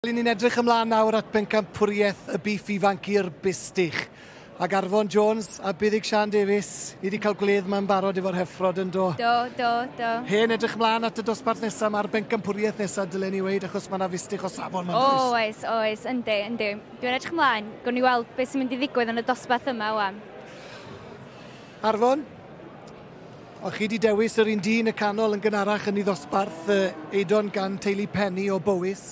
Ry'n ni'n edrych ymlaen nawr at bencampwriaeth y bîff ifanc i'r Bistych ag Arfon Jones a Buddug Siân Davies. Ni wedi cael gwledd yma yn barod efo'r Heffrod yn do? Do, do, do. Hen edrych ymlaen at y dosbarth nesaf, mae'r bencampwriaeth nesaf dylen i weud achos mae 'na Fistych o safon yma yndoes? O oes, oes, yndi, yndi. Dwi'n edrych ymlaen, gawn ni weld beth sy'n mynd i ddigwydd yn y dosbarth yma 'wan. Arfon, Ond chi 'di dewis yr un dyn y canol yn gynharach yn ei ddosbarth yy Eidon gan teulu Penny o Bowys.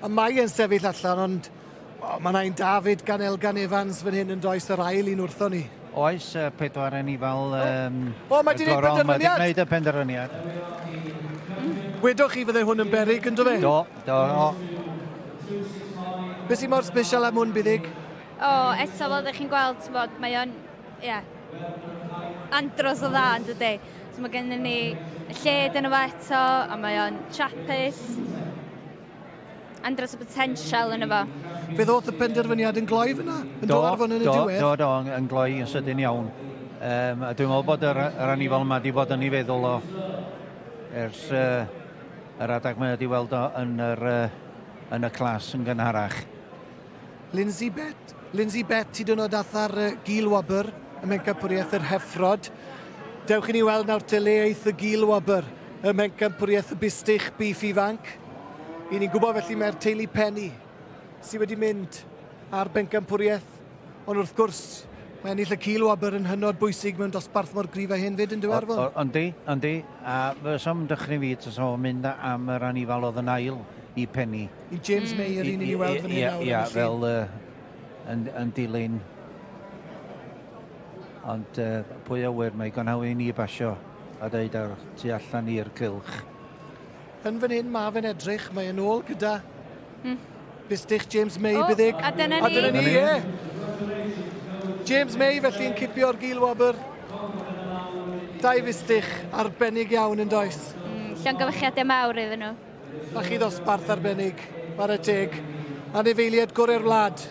Y mae e'n sefyll allan ond o, ma' 'na un David gan Elgan Evans fan hyn yndoes yr ail un wrthon ni. Oes, yy pedwar anifail yym... O, mae 'di neud penderfyniad! Mae 'di neud y penderfyniad. Wedoch chi fydde hwn yn beryg yn do fe? Do, do, o. Be' sy mor sbesial am hwn Biddig? O, eto fel 'dych chi'n gweld t'mod mae o'n Ie. Andros o dda yndydi? So mae gennym ni y lled yn efo eto a mae o'n Trappist. Andros o potensial yn efo. Fe ddoth y penderfyniad yn gloi fyna? Yn do, do, yn y diwedd? Do, do, yn gloi yn sydyn iawn. Um, a dwi'n meddwl bod yr, yr anifol yma wedi bod yn ei feddwl o ers uh, yr adag mae wedi weld o yn, yr, uh, yn y clas yn gynharach. Lindsay Bet. Lindsay Bet, ti dynod atha'r uh, gil wobr y mewncampwriaeth yr heffrod. Dewch i ni weld nawr te le eith y gil wobr y mewncampwriaeth y bustych bif ifanc. I ni'n gwybod felly mae'r teulu Penny sydd wedi mynd ar bencampwriaeth, ond wrth gwrs mae ennill y cil wobr yn hynod bwysig mewn dosbarth mor grif a hyn fyd yn diwerfon. Yndi, yndi, a fy som dychryn fi tas o'n mynd am yr anifal oedd yn ail i Penny. I James May yr un i ni weld fan hyn nawr. Ia, fel uh, yn, yn dilyn. Ond uh, pwy a wyr, mae gan hawn i ni basio a dweud ar tu allan i'r cylch. Yn fan hyn, mae fe'n edrych, mae yn ôl gyda mm. bistych James May, oh, byddig. A dyna ni. A dyna ni, ie. James May felly'n cipio'r gil wobr. Dau fistych arbennig iawn yn does. Mm, llongyfychiadau mawr iddyn nhw. Mae chi ddosbarth arbennig, ware teg. Anifeiliaid gorau'r wlad,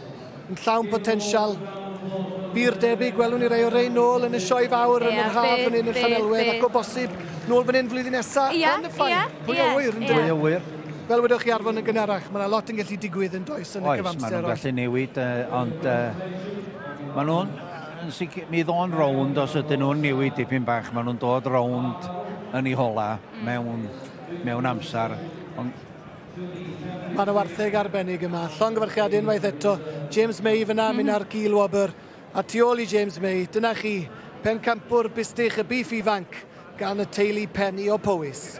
yn llawn potensial. Byr debyg, gwelwn ni rai o rein nôl yn y sioe fawr yn yr haf fan hyn yn Llanelwedd ac o bosib nôl fan hyn flwyddyn nesaf yn y ffain. Pwy a ŵyr, yn dyw e? Fel wedwch chi Arfon yn gynharach, mae yna lot yn gallu digwydd yn does yn y cyfamser. Oes, maen nhw'n gallu newid, ond maen nhw'n yn sicr, mi ddo'n rownd os ydyn nhw'n newid dipyn bach, maen nhw'n dod rownd yn ei hola mewn mewn amser, ond Mae yna wartheg arbennig yma. Llongyfarchiad unwaith eto. James May fyna, mm -hmm. mynd ar Gil Wobr. A tu ôl i James May, dyna chi, pencampwr bustych y bif ifanc gan y teulu pen i o Powys.